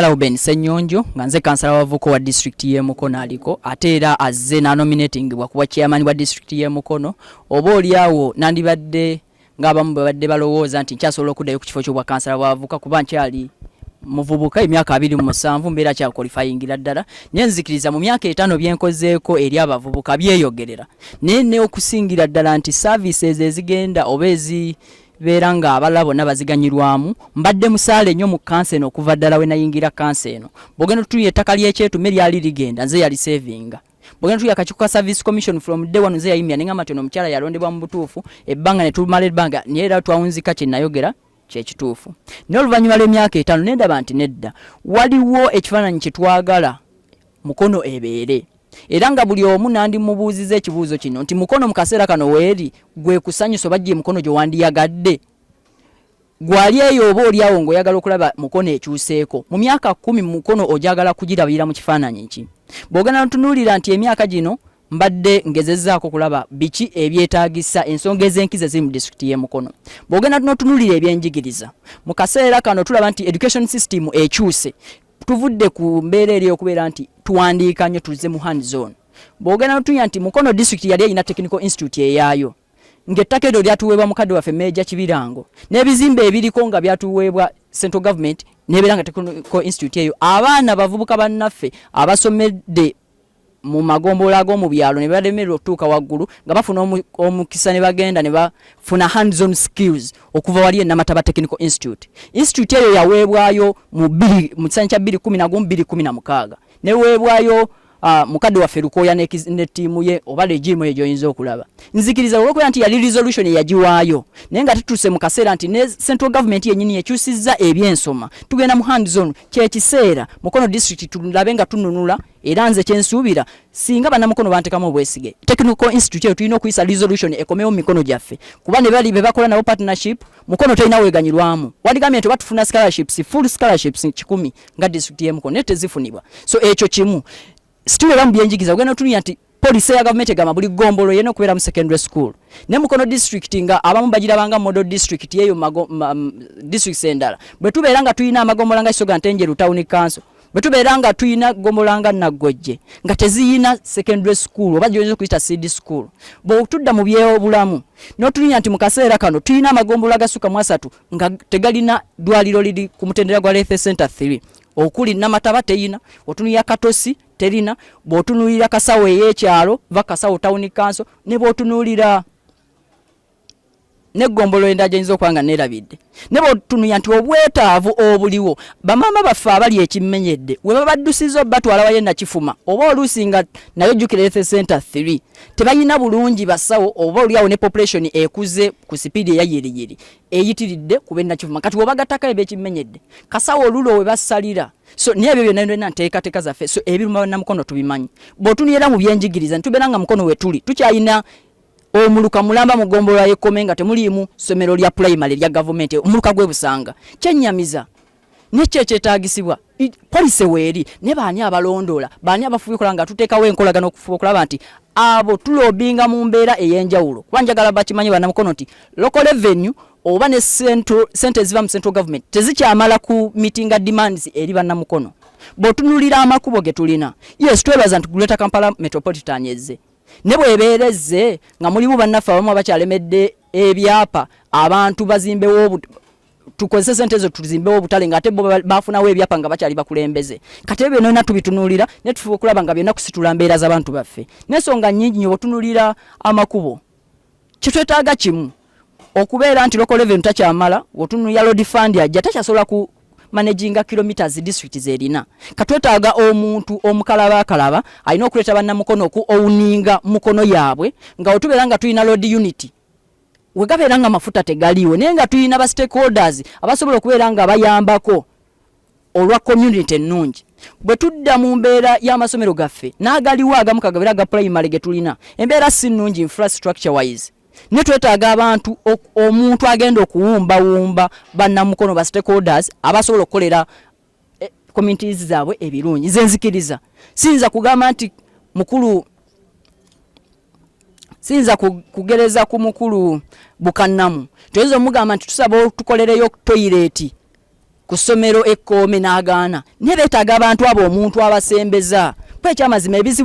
Lauben Ssenyonjo nga nze kansala wavuko wa district y'e Mukono aliko ate era azze n'anominatingibwa kuba chairman wa district y'e Mukono oba olyawo nandibadde ng'abamu babadde balowooza nti nkyasobola okuddayo ku kifo ky'obwa kansala bwavuka kuba nkyali muvubuka emyaka abiri mu musanvu mbeera kyakolifayingira ddala naye nzikiriza mu myaka etaano byenkozeeko eri abavubuka byeyogerera naye neokusingira ddala nti services ezigenda oba ezi beera nga abalala bonna baziganyirwamu mbadde musaale nnyo mu kansa eno okuva ddala we nayingira kansa eno bwogenda otutunya ettaka ly'ekyetume lyali ligenda nze yali sevinga bwogenda otutunya akakiiko ka service commission from day one nze yayimya ne ngamba nti ono omukyala yalondebwa mu butuufu ebbanga ne tumala ebbanga naye era twawunzika kye nayogera kyekituufu naye oluvannyuma lw'emyaka etaano nendaba nti nedda waliwo ekifaananyi kye twagala mukono ebeere era nga buli omu nandimubuuziza ekibuuzo kino nti mukono mu kaseera kano weeri gwe kusanyusa oba gye mukono gye wandiyagadde gwali eyo oba oli awo ng'oyagala okulaba mukono ekyuseeko mu myaka kumi mukono ogyagala kugirabira mu kifaananyi ki bw'ogenda notunuulira nti emyaka gino mbadde ngezezaako kulaba biki ebyetaagisa ensonga ez'enkizo eziri mu disitulikiti y'e mukono bw'ogenda notunuulira ebyenjigiriza mu kaseera kano tulaba nti education system ekyuse tuvudde ku mbeera eri okubeera nti tuwandiika nnyo tuzze mu hand zone bwogenda notunya nti mukono district yali erina technical institute eyaayo ngaettaka eryo lyatuweebwa mukadde waffe meeja kibirango n'ebizimbe ebiriko nga byatuweebwa central government nebeera nga technical institute eyo abaana bavubuka bannaffe abasomedde mu magombolola ag'omu byalo ne bademererwa okutuuka waggulu nga bafuna omukisa ne bagenda ne bafuna hands on skills okuva wali e Namataba Technical Institute. Institute eyo yaweebwayo mu bbiri mu kisanyi kya bbiri kumi na gumu bbiri kumi na mukaaga neweebwayo Uh, mukadde waffe lukooya ne, ne tiimu ye oba legimu eyo gyoyinza okulaba nzikiriza olwokubeera nti yali resolution eyagiwaayo naye nga tutuuse mu kaseera nti ne central government yenyini yekyusizza ebyensoma tugenda mu hands on kyekiseera mukono district tulabe nga tununula era nze kyensuubira singa banamukono bantekamu obwesige technical institute eyo tulina okuyisa resolution ekomewo mu mikono gyaffe kuba ne bali bebakola nabo partnership mukono tolina weganyirwamu wadigambye nti batufuna scholarships full scholarships kikumi nga district yemukono naye tezifunibwa so ekyo kimu situlera mu byenjigiza ogenda otunuya nti Police ya government egamba buli gombolo yena okubeera mu secondary school ne Mukono district nga abamu bagirabanga model district yeyo mago, ma, m, district sendala bwe tubeera nga tulina amagombola nga Kisoga Ntenjeru town council bwe tubeera nga tulina gombola nga Naggojje nga teziyina secondary school oba gyoyinza okuyita seed school bw'otudda mu by'obulamu n'otulinya nti mu kaseera kano tulina amagombola agasukka mu asatu nga tegalina ddwaliro liri ku mutendera gwa Lethe Center 3 okuli namataba teyina otunuya katosi terina bwotunulira kasawo eyekyalo va kasawo town council ne bwotunulira negombolo enda jenyiza okuba nga nerabidde ne bwotunuya nti obwetaavu obuliwo bamaama baffe abali ekimenyedde we babaddusiza obatwala waye nakifuma oba oluusi nga nayo jukira ethe center 3 tebalina bulungi basawo oba oliawo ne population ekuze ku sipiidi eyayiriyiri eyitiridde kubenakifuma kati wobagatako ebyekimenyedde kasawo olulo we basalira so naye ebyo byonna byonna nteekateeka zaffe so ebiruma bannamukono tubimanyi bw'otunira mu byenjigiriza ne tubeera nga mukono we tuli tukyalina omuluka mulamba mu ggombolola y'ekkome nga temuliimu ssomero lya pulayimale erya gavumenti omuluka gw'e busanga kyennyamiza nekyo ekyetaagisibwa polisi weeri naye baani abalondoola baani abafuba ekola nga tuteekawo enkolagana okufuba okulaba nti abo tulobinga mu mbeera ey'enjawulo kuba njagala bakimanye banamukono nti local revenue oba ne sente eziva mu central government tezikyamala ku mitinga demands eri bannamukono bw'otunulira amakubo ge tulina yes twebaza nti greater kampala metropolitan ezze ne bwebeera ezze nga mulimu bannaffe abamu abakyalemedde ebyapa abantu bazimbewo tukozese sente ezo tuzimbewo obutale nga ate bo bafunawo ebyapa nga bakyali bakulembeze kati ebyo byonna tubitunulira ne tufuba okulaba nga byonna kusitula mbeera z'abantu baffe n'ensonga nnyingi nyo bwetunulira amakubo kyetwetaaga kimu okubeera nti local revenue takyamala otunuya load fund ajja takyasobola ku managinga kilometers district zerina katwetaaga omuntu omukalaba akalaba alina okuleeta bannamukono oku owuninga mukono yaabwe nga wetubeera nga tulina load unity wegabeera nga amafuta tegaliiwo naye nga tulina ba stakeholders abasobola okubeera nga bayambako olwa community ennungi bwe tudda mu mbeera y'amasomero gaffe n'agaliwo agamu kagabera aga primary ge tulina embeera si nnungi infrastructure wise ne twetaaga abantu omuntu agenda okuwumbawumba bannamukono ba stakeholders abasobola okukolera eh, communities zaabwe ebirungi nze nzikiriza siyinza kugamba nti mukulu siyinza kugereza ku mukulu bukannamu toyinza omugamba nti tusaba otukolereyo toyireti ku ssomero ekkoome n'agaana naye beetaaga abantu abo omuntu abasembeza kuba ekyamazima ebizibu